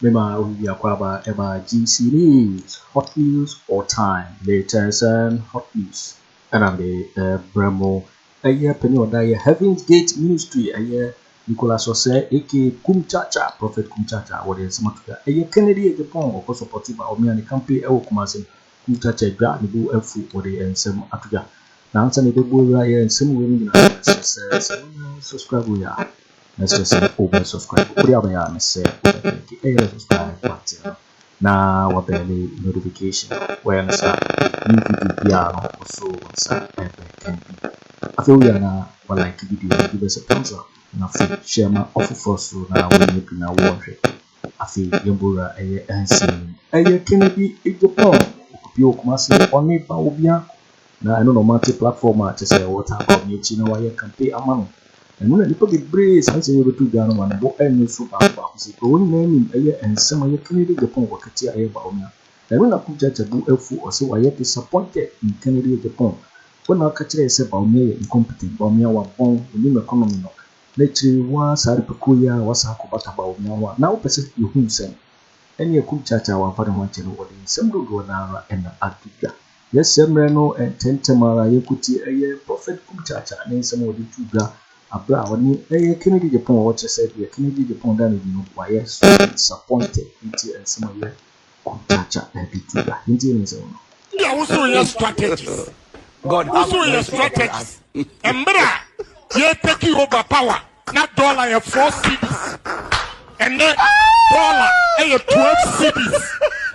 mema obi biako aba ɛma GC News hot news all time metɛnsɛn hot news ɛna me ɛbrɛ mo ɛyɛ panyin ɔda yɛ Heaven's Gate Ministry ɛyɛ Nicholas Osei aka Kumchacha, Prophet Kumchacha wɔde nsɛm ato dwa. Ɛyɛ Kennedy Agyapong ɔkɔ sɔpɔte ba ɔmea ne kampe ɛwɔ Kumase no. Kumchacha adwa ne bo afu wɔde nsɛm ato dwa. Na ansa na yɛbɛbu awura yɛ nsɛm wei mu nyinaa no mɛsrɛ sɛ sɛ wonyɛ subscribe wei a mɛsrɛ sɛ wobɛ subscribe. Wode abɛyɛ a mesɛ wobɛ click ɛyɛ subscribe button no. na wɔbɛn me notification. Wɔyɛ no saa new video biara no wɔsoo wɔn nsa pɛpɛ kan bi. Afei woyɛ na wɔ like video no give us a thumbs up na afei share ma ɔfoforɔ so na wɔnyɛ bi na wɔnhwɛ. Afei yɛn bowura ɛyɛ ɛnsin. Ɛyɛ kene bi egyepɔn. Obi wɔ kumase ɔne ba wɔ biako. Na ɛno na wɔate platform a kyesɛ wɔtaa ba wɔn akyi na wɔayɛ campaign ama no. Ɛno na nnipa bebree saa nsɛm yi bɛto dwa no ma ne bo ɛnyɛ su baako baako sei kura wɔn nyinaa nim ɛyɛ nsɛm a ɛyɛ Kennedy Agyapong wakati a ɛyɛ Bawumia. Ɛno na Kujacha bo afu ɔse wayɛ disappointed in Kennedy Agyapong. Wo na woka kyerɛɛ yɛ sɛ Bawumia yɛ incompetent, Bawumia wabɔn, ɔnim economy no. Na akyire yi woaa saa nnipakuo yi ara wɔasan akɔ bata Bawumia ho a na wopɛ sɛ yɛhunu sɛn? Ɛneɛ Kujacha a wamfa ne ho ankyɛ no wɔde nsɛm dodoɔ no ara na ato dwa. Yɛsɛ mmerɛ no ntɛmntɛm ara yɛnkɔtie ɛyɛ Prɔfɛt Kumkyaakyah ne nsɛm a ɔde too dwa aberɛ a ɔne ɛyɛ Kenny Gyegyepong a wɔkyerɛ sɛ deɛ Kenny Gyegyepong da no adi no wayɛ so disappointed yɛntie nsɛm a ɛyɛ Kumkyaakyah de too dwa yɛntie ne nsɛm no. Deɛ wo so yɛ strategies wo so yɛ strategies mberɛ a yɛ take over power. Na dɔla yɛ four cedis ɛnɛ dɔla yɛ twelve cedis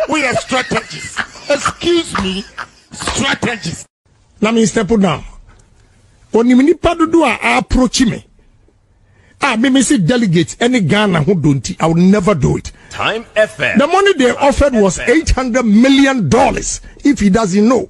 woyɛ strategist excuse me strategist. Na me step down onim nipa dodo a a approach me a me me se delegate ɛne Ghana ho do nti I will never do it. Time FM. The money they offered was eight hundred million dollars if he doesn't know.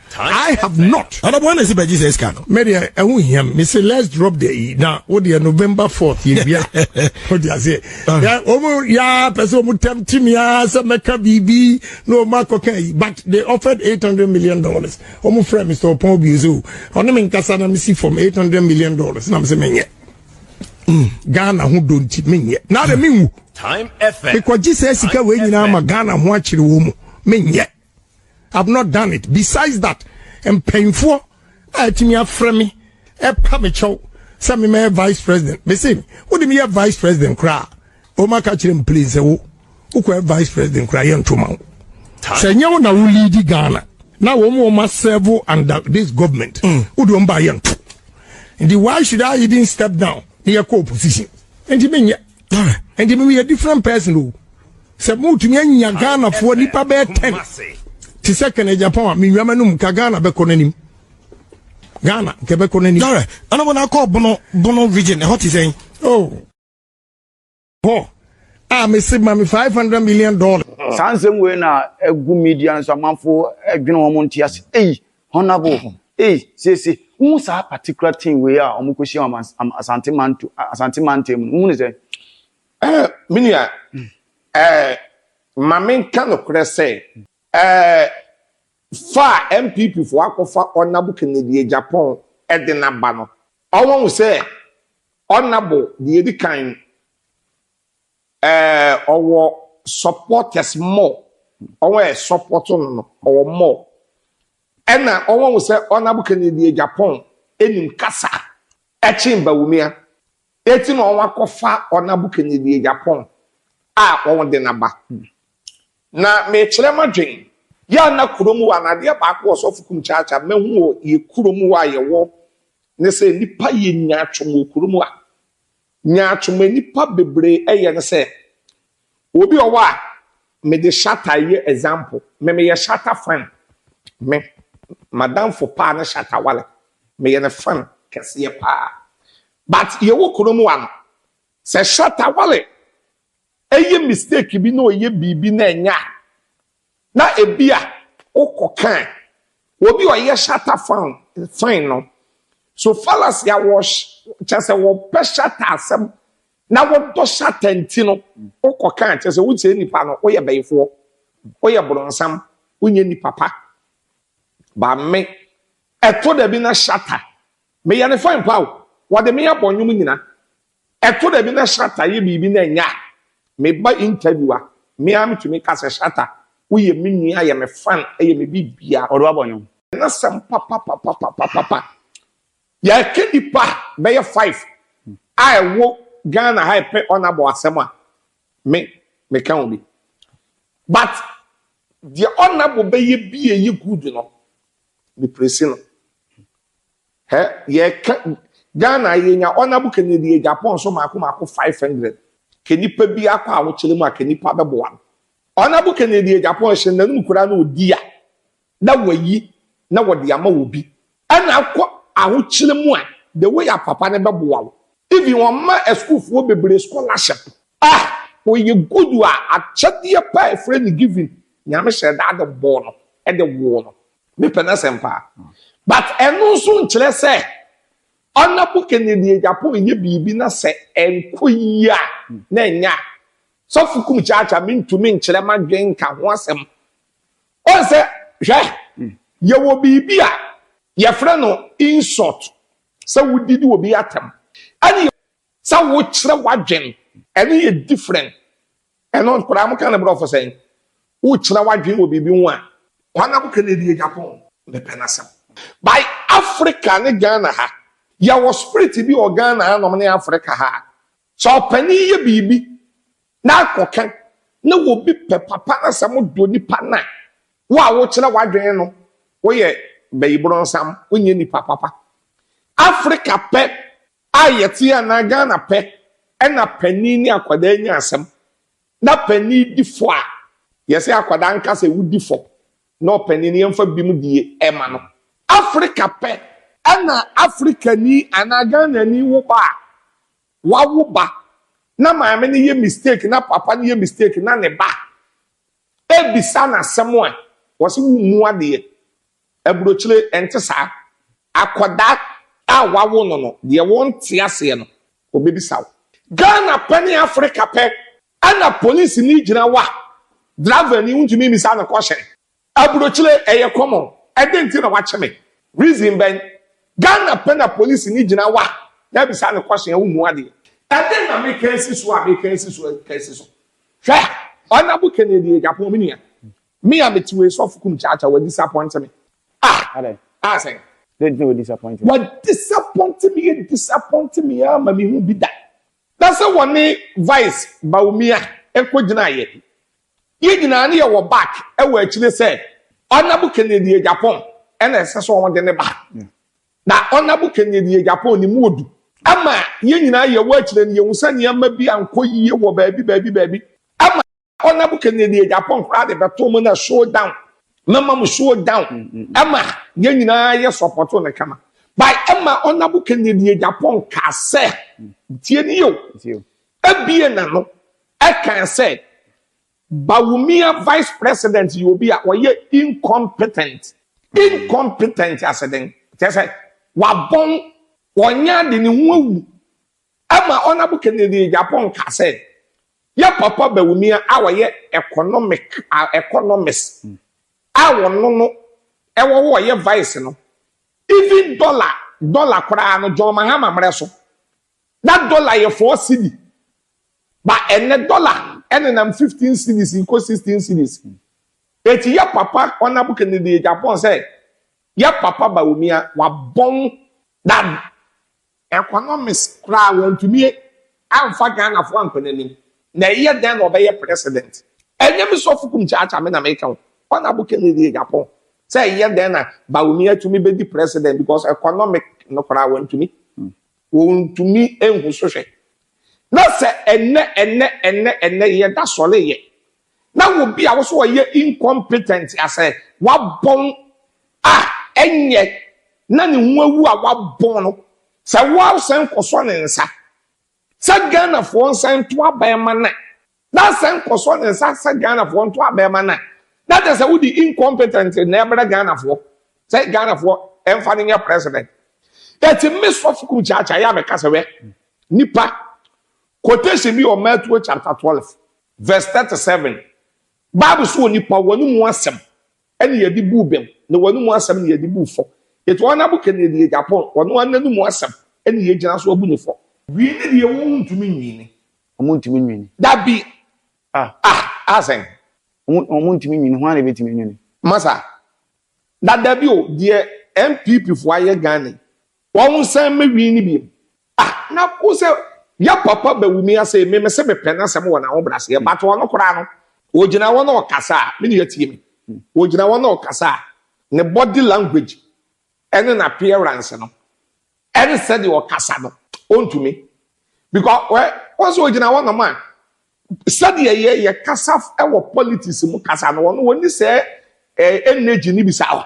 I have not. Ɔdɔbɔ wana si bɛgye sɛ sika no. Mɛ deɛ ɛho hia me se let's drop the yi na wo deɛ November fourth yɛ wia. O di aseɛ. Ɔmo yaa pɛ sɛ ɔmo tɛm ti mi aa sɛ mɛka biribi na ɔmo akɔka yi but they offered eight hundred million dollars. Ɔmo frɛ Mr. Ɔpɔn Obio sɛ o ɔne me nkasa na me si fam eight hundred million dollars na me se menyɛ. Mm. Ghana ho do nti menyɛ. Na de menwu. Mekɔgye sɛ sika wei nyinaa ma Ghana ho akyere wɔ mu menyɛ. I've not done it. Besides that, mpanyinfoɔ a atumi afrɛ me ɛpa me kyɛw sɛ me mɛyɛ vice president. Me se, wo de me yɛ vice president koraa. O ma ka kyerɛ m please sɛ wo, wo kɔ yɛ vice president koraa yɛ ntoma wo. Sɛ nyɛ wo na wo lead Ghana na wɔn wɔn ma serve under this government. Mm. Wo de wɔn ba yɛ nto. Nti why should I even step down na yɛ kɔ opposition? Nti me nyɛ. ɛnti mimi yɛ different person o sɛ motumi anya ghanafoɔ nipa bɛyɛ ten te sɛ kɛnɛ japan a menwama no mu ka ghana bɛkɔ no anim ghana nkɛ bɛkɔ no anim dare ana wɔn akɔ bono bono region ɛhɔ te sɛn oh hɔ a mese ma me five hundred million dollars saa nsɛm wei na ɛgu media no so amanfo adwene wɔn nte ase ei Honourable, ei, siesie, wohu saa particular team wei a wɔn kɔhyia wɔn am Asante manto Asante mantam mu no, wohu ne sɛ? Ɛɛ, me nua, ɛɛ, ma menka nokorɛ sɛ, ɛɛ, fa a NPP foɔ akɔfa Honourable Kennedy Agyapong de no aba no, wɔahu sɛ Honourable deɛ ɛdi kan no, Ɛɛ ɔwɔ supporters more ɔwɔ ɛ support no no ɔwɔ more ɛna ɔwɔ wo sɛ ɔnabo kɛnɛ deɛ Japan ɛnim kasa ɛkyen bawumia ɛti na ɔwɔ akɔ fa ɔnabo kɛnɛ deɛ Japan a ɔwɔ de naba na mekyerɛ ma dwen yɛ ana kuro mu wɔ anadeɛ baako wɔ sɔfo kum kyaakya mɛhu wɔ yɛ kuro mu wɔ a yɛwɔ ne sɛ nipa yɛ nya atwom wɔ kuro mu a Nyaatwom a nnipa bebree yɛ ne sɛ, obi wɔ hɔ a, mede shatter yɛ example, me meyɛ shatter fan, me m'adamfo paa ne shatter wale, meyɛ ne fan kɛseɛ paa but yɛwɔ kurom ha no, sɛ shatter wale Ɛyɛ mistake bi na ɔyɛ biribi na ɛnyɛ a, na ebia wokɔ kan. Obi a ɔyɛ shatter fan fan no, so fallacy a wɔ kyerɛ sɛ wɔpɛ shatter asɛm na wɔdɔ shatter nti no wokɔ kan kyerɛ sɛ wokyerɛ nipa no woyɛ bɛyifoɔ, woyɛ borɔnsam, wonyɛ nipa pa. Ba me, ɛtɔ da bi na shatter, meyɛ ne fan pa o, wɔde me abɔ nnwom nyina. Ɛtɔ da bi na Shatta yɛ biribi na ɛnyɛ a, me ba interview a, me ara metumi ka sɛ, Shatta, woyɛ me nua, ɛyɛ me fan, ɛyɛ me biribiara. Ɔde w'abɔ nnwom. N'asɛm papapapapapapa. Yɛka nnipa bɛyɛ five a ɛwɔ Ghana ha ɛpɛ Ɔnabɔ asɛm a, me, meka ho bi. But deɛ Ɔnabɔ bɛyɛ bi a ɛyɛ good no, me praise no. Hɛ yɛka Ghana yi yɛnya honourable Kennedy deɛ Japan nso maako maako five hundred. Kɛ nipa bi akɔ ahokyere mu a kɛ nipa bɛboa no. Honourable Kennedy deɛ Japan hyɛ n'anum koraa na ɔdi a na wayi na wɔde ama obi. Ɛna akɔ ahokyere mu a the way a papa no bɛboa wo. Even wɔma asukuufoɔ bebree scholarship. Ah! Ɔyɛ good a akyɛdeɛ paa ɛfrɛ no giving. Nyame hyɛɛ da de bɔɔ no de woo no. Mepɛ n'asɛm paa. But ɛno nso nkyerɛ sɛ Honourable Kennedy Agyapong reyɛ biribi na sɛ ɛnkɔ yie a na ɛnyɛ a. Sɔfo Kum Kyaakyaa mentumi nkyerɛ m'adwene nka ho asɛm. Woahu sɛ, hwɛ, yɛwɔ biribi a yɛfrɛ no insult, sɛ wodidi obi atɛm, ɛne sɛ wokyerɛ w'adwene, ɛno yɛ different. Ɛno nkwadaa mo ka no brɔfo sɛn? Wokyerɛ w'adwene wɔ biribi ho a. Kwan a mo ka no ɛdi yɛ Japan. Me pɛ n'asɛm. By Africa ne Ghana ha. Yɛ wɔ spirit bi wɔ Ghana ha nom ne Africa ha. Sɛ ɔpanin yɛ biribi na akɔ ka na wɔ bi pɛ papa na sɛ mo dɔ nipa no a wo a wo kyerɛ w'adwene no wo yɛ bayi bronsam wo nyɛ nipa papa. Africa pɛ a yɛte anaa Ghana pɛ na panin ne akwadaa nya asɛm na panin di fɔ a, yɛsɛ akwadaa nka sɛ wodi fɔ na ɔpanin no yɛmfa bim die ɛma no. Africa pɛ na Africani anaa Ghanani wo ba a, wawo ba na maame no yɛ mistake na papa no yɛ mistake na ne ba ɛbisa no asɛm a, wɔse wommu adeɛ. Aburokyire, ɛnte saa. Akwadaa a wɔawo no no, deɛ wonte aseɛ no, ɔbɛbisa wo. Ghana pɛ ne Africa pɛ na polisini gyina hɔ a, dravani wontumi mmisa no kɔhyɛn. Aburokyire, ɛyɛ common. Ɛdɛn nti na woakye me? Reason bɛn? Ghana pɛ na polisini gyina hɔ a, na abisa no kɔhyɛn a wommu adeɛ. Ɛdɛn na meka asi so a meka asi so a meka asi so? Hwɛ! Honourable Kennedy Agyapong, me nua, Me a mete wei sɔfo kum kyaa kyaa wa disappoint me ah adɛn ah sɛn. Dɛn nti na wa disappoint me. Wa disappoint me yɛ disappoint me aa ma me hu bi da. Na sɛ wɔne vice Bawumia nkɔ gyina yɛ yɛ nyinaa ne yɛ wɔ back wɔ akyire sɛ honourable Kennedy Agyapong na ɛsɛ sɛ wɔn de ne ba na honourable Kennedy Agyapong ne mu odu ama yɛ nyinaa yɛ wɔ akyire no yɛ hu sɛ nneɛma bi ankɔ yie wɔ baabi baabi baabi ama Hɔ na bu kɛnɛ ni ɛgya pɔn koraa de bɛto mu na show down mɛma mu show down ɛma yɛn nyinaa yɛ sɔpɔto no kama by ɛma ɔnabu kɛnɛ ni ɛgya pɔn kaa sɛ tie ni yɛ o ɛbie na no ɛkan sɛ Bawumia vice president yɛ obi a ɔyɛ incompetent incompetent asɛdɛn kyɛ sɛ wabɔn wɔnyɛ ade ne ho awu Ɛma Ɔnabo Kennedy Agyapong kaa sɛ, Yɛ Papa Bawumia a ɔyɛ economic a economist a ɔno no wɔ hɔ ɔyɛ vice no, even dollar dollar koraa no John Mahama mmerɛ so na dollar yɛ four cedi ba ɛnnɛ dollar ɛnenam fifteen cedis rekɔ sixteen cedis. Enti Yɛ Papa Ɔnabo Kennedy Agyapong sɛ Yɛ Papa Bawumia wabɔn dam Economists koraa wɔantumi amfa Ghanafoɔ ankɔ n'anim, na ɛyɛ dɛn na ɔbɛyɛ president? Ɛnyɛ me Sɔfokum Kyaakyaa me na meka o, Honourable Kennedy Agyapong, sɛ ɛyɛ dɛn na Bawumia tumi bɛdi president because economic no koraa wɔantumi, wɔntumi nhu so hwɛ. Na sɛ ɛnnɛ ɛnnɛ ɛnnɛ ɛnnɛ yɛda sɔreyɛ na obi a wɔsɛ ɔyɛ incompetent asɛ wabɔn a ɛnyɛ na ne ho awu a wabɔn no sɛ wɔsɛn kɔsɔ ne nsa sɛ Ghanafoɔ nsa nto abɛn ma no na asɛn kɔsɔ ne nsa sɛ Ghanafoɔ nto abɛn ma no na kyɛ sɛ wode incompetent na ɛbrɛ Ghanafoɔ sɛ Ghanafoɔ ɛmfa no nyɛ president ɛti me sɔfo kum kyaakyaa yɛ a mɛka sɛ wɛ nipa quotation bi wɔ Matthew chapter 12 Verse thirty seven, Bible se onipa, w'anomu asɛm na yɛde buu bem, na w'anomu asɛm na yɛde buu fɔ. Enti wɔn a bokɛ nea deɛ Japan, ɔno ara n'anomu asɛm na yɛgyina so abu no fɔ. Wii ne deɛ wɔntumi nwini. Wɔntumi nwini. Dabi! Ah! Ah! Ah sɛn? Wɔn, wɔntumi nwini, hwan na ebetumi anwini? Masa, Dadabi o, deɛ NPP foɔ ayɛ Ghana yi, Wɔn san mɛ wii no biem. Ah na wo sɛ yɛ papa bɛ wumi asee me mese me pɛ nasɛm wɔ naho braseɛ but ɔno koraa no ogyina hɔ na ɔkasa a me nua tie me ogyina hɔ na ɔkasa a ne body language ɛne na appearance no ɛne sɛdeɛ ɔkasa no ɔntumi because wɛ wɔn sɛ ogyina hɔ nom a sɛdeɛ yɛ yɛ kasa ɛwɔ politics mu kasa no ɔno wɔn ni sɛ energy ne bi saa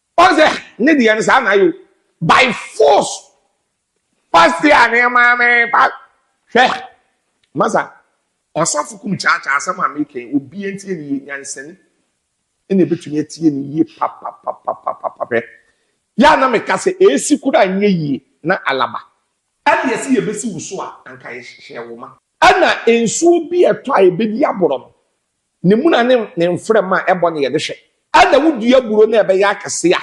Wɔn sɛ ne deɛ no saa na ayɛ o by force pasti a ne maame pa hwɛ masa ɔsafo kum kyaakyaa asɛm a meka yi obi ntie ne yie nyansani ɛna ebetumi atie ne yie papapapapapa hwɛ yɛ a na meka sɛ esi kura nyɛ yie na alaba ɛde ɛsi yɛ besi wusu a anka yɛ hyehyɛ wo ma. Ɛna nsuo bi ɛtɔ a ebedi aborɔ no Ne mmuna ne ne mframa a ɛbɔ na yɛde hwɛ. Ɛna wodua buro na ɛbɛyɛ akɛse a,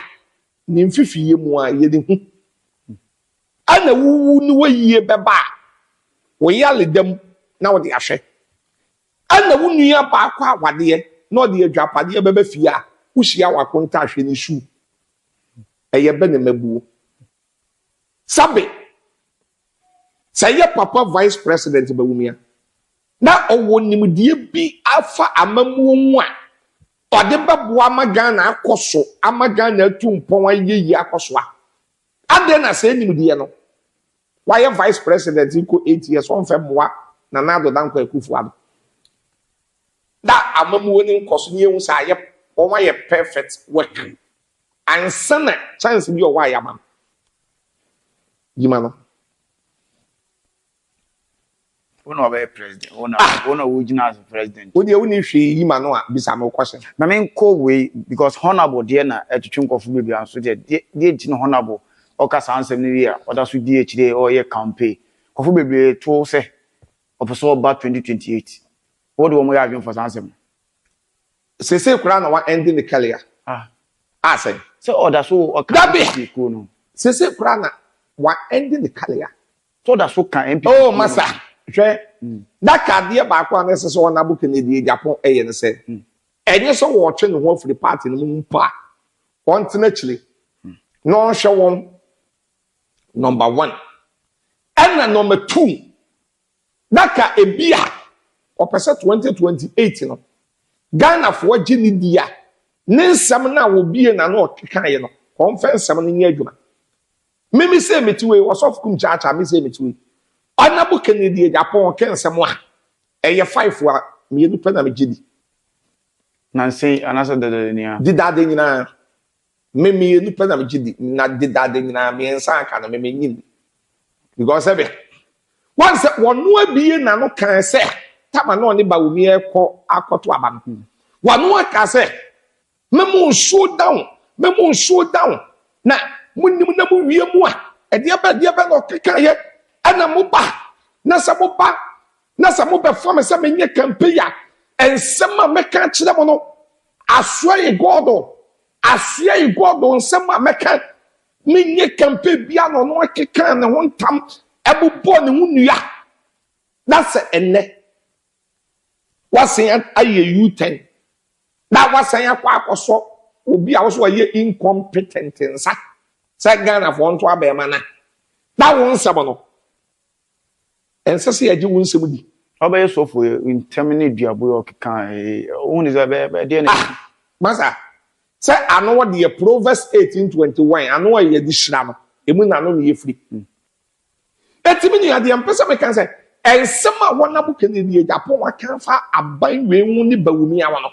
ne mfifiyɛ mu ara yɛde hu. Ɛna wowu ne woyie bɛba a, woyale da mu na wode ahwɛ. Ɛna wo nua baa kɔ awadeɛ na ɔde adwapadeɛ bɛba fie a, wohyia w'akontaa hwɛ ne suu. Ɛyɛ bɛ na mabuo? Sɛbe! Sɛ ɛyɛ Papa Vice President Bawumia na ɔwɔ nimdeɛ bi afa amammuo ho a, ɔde bɛboa ama Ghana akɔ so ama Ghana atu mpɔn ayɛ yie akɔ so a, adɛn na saa nimdeɛ no, wayɛ Vice President kɔ eight years, ɔmfɛ mmoa Nana Addo Dankwa Akuffo Addo? Na amammuo no nkɔ so na yɛhu sɛ ayɛ, wɔn ayɛ perfect work ansa na chance bi a ɔwɔ a yɛama no. Gyima no. Wo na ɔbɛyɛ president wo na ah! wo na wogyina as president. Wo deɛ woni hwee yi ma no a bisa me question. Na me nkɔ wei because honourable deɛ na ɛtwetwe nkɔfo bebree anso deɛ deɛ nti na honourable ɔka saa nsɛm no wie a ɔda so di akyire ɔyɛ campaign nkɔfo bebree to sɛ ɔpɛ sɛ ɔba 2028 wo de wɔn yɛ adwene fa saa nsɛm no. Seesei koraa na wa ɛnde ne kɛlea a sɛn. Sɛ ɔda so wɔ ɔka NPP kuo no ho. Dabi! Seesei koraa na wa ɛnde ne kɛlea. Sɛ ɔda so ka NPP kuo no ho. Oh masa, hwɛ, da ka adeɛ baako a na ɛsɛ sɛ wɔn abo Kennedy Agyapong ɛyɛ no sɛ, ɛnyɛ sɛ wɔɔtwe ne ho afiri party no mu mpo a, ɔntena akyire na ɔnhwɛ wɔn, number one. Ɛna number two. Na ka ebi a ɔpɛ sɛ twenty twenty eight no Ghanafoɔ gye ne di a ne nsɛm no a ɔbue n'ano ɔkekaeɛ no ɔmfa nsɛm no nyɛ adwuma. Mimi sei mete wei Ɔsɔfo Kum Kyaakyaa me sei mete wei Ɔnabu Kennedy Agyapong ɔka nsɛm a ɛyɛ five a mmienu pɛ na megye di. Nansei anaasɛ dadadenyaa. Dedaada nyinaa Me mmienu pɛ na megye di na dedade nyinaa mmiɛnsa aka no me menyim bi because sɛ bɛ wɔn sɛ wɔno abie n'ano kan sɛ tama na ɔne baomi ɛkɔ akɔto abanku wɔno aka sɛ me mo nsuo down me mo nsuo down na mo nim na mo wie mu a ɛdeɛ bɛ ɛdeɛ bɛ na ɔkeka yɛ ɛna mo ba na sɛ mo ba na sɛ mo bɛfa me sɛ menyɛ kampe ya ɛnsɛm a mɛka kyerɛ mo no Asoɛ yi God o. Asoɛ yi God o nsɛm a mɛka ne nyɛ campaign biara na ɔno akeka ne ho ntam ɛbobɔ ne ho nua na sɛ ɛnɛ wasan ayɛ U-turn na wasan akɔ akɔsɔ obi a wɔso ayɛ incompetent nsa sɛ Ghanafoɔ nto abɛɛma na na wo nsɛm no Ɛnsɛ sɛ yɛgye wo nsɛm di. Ɔbɛyɛ sɔfo ɛ, ntɛm ne duaboe a ɔkeka ee, wohu ne sɛ ɛbɛyɛ bɛ deɛ na. Ah! Masa, sɛ ano deɛ Proverbs eighteen twenty one, ano a yɛde hyira no, ɛmu na ano na yɛfiri. Enti me nua, deɛ mpɛ sɛ meka ne sɛ, nsɛm a wɔnam Kennedy Agyapong aka afa aban wei ho ne Bawumia ho no,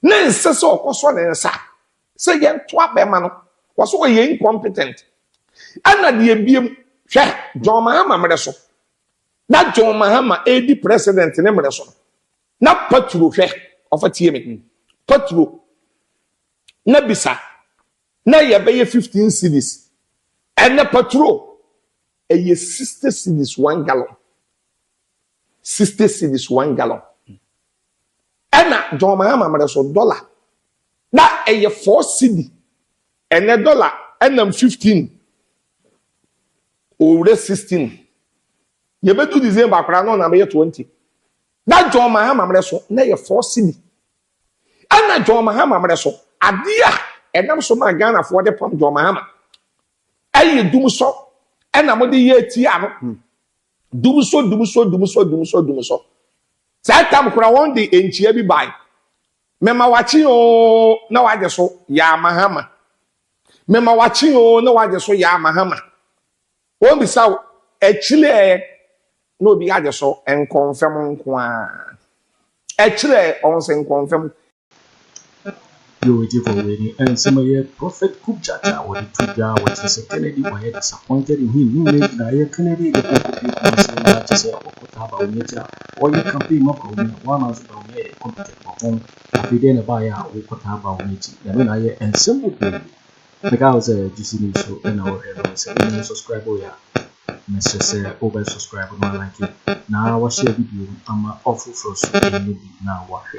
na ɛnsɛ sɛ ɔkɔsɔ ne nsa Sɛ yɛn toa bɛrima no wɔ so ɔyɛ incompetent ɛna deɛ biem hwɛ John Mahama mmerɛ so na John Mahama ɛredi president ne mmerɛ so na paturo hwɛ ɔfa tie me hmm. paturo na bisa na yɛbɛyɛ 15 cities ɛnɛ paturo ɛyɛ 60 cities one gallon 60 cities one gallon Ɛna John Mahama mmerɛ so dɔla na ɛyɛ four cedi ɛnɛ dɔla ɛnam fifteen ɔrewura sixteen yɛbɛdu December koraa na ɔnam bɛyɛ twenty na John Mahama mmerɛ so na ɛyɛ four cedi ɛna John Mahama mmerɛ so adeɛ a ɛnam so maa Ghanafoɔ de pam John Mahama ɛyɛ dum sɔ ɛna mo de yɛ ti ano Dum so, dum so, dum so, dum so, dum so. Saa tam kora wɔn de nkyia bi bae. Mema wakye oo na wagye so yaa mahama. Mema wakye oo na wagye so yaa mahama. Wɔn bisa wo akyire ɛ na obi agye so nkɔnfɛm nko ara. Akyire ɛ wɔn sɛ nkɔnfɛm. Yo eti kɔ wei ni ɛnsɛm ɛyɛ prophet kubjat a wɔde to dwa a wɔkyerɛ sɛ Kennedy wɔyɛ disappointed in him ne nyinaa gyinaeɛ Kennedy de kɔ kɔpie Kumasi na akyɛ sɛ ɔkɔtaa Bawumia ti a ɔyɛ campaign ma Bawumia wɔama nso Bawumia yɛ incompetent wɔ ho afei deɛ na ɛbaeɛ a wokɔtaa Bawumia ti nyame na ayɛ ɛnsɛm bebree meka wo sɛ gyesi nim so na wɔhwɛ no sɛ wonya no subscribe yɛ a mesrɛ sɛ wobɛ subscribe na like na wahyɛ video ama ɔfoforɔ so ɛnyɛ bi na wɔahwɛ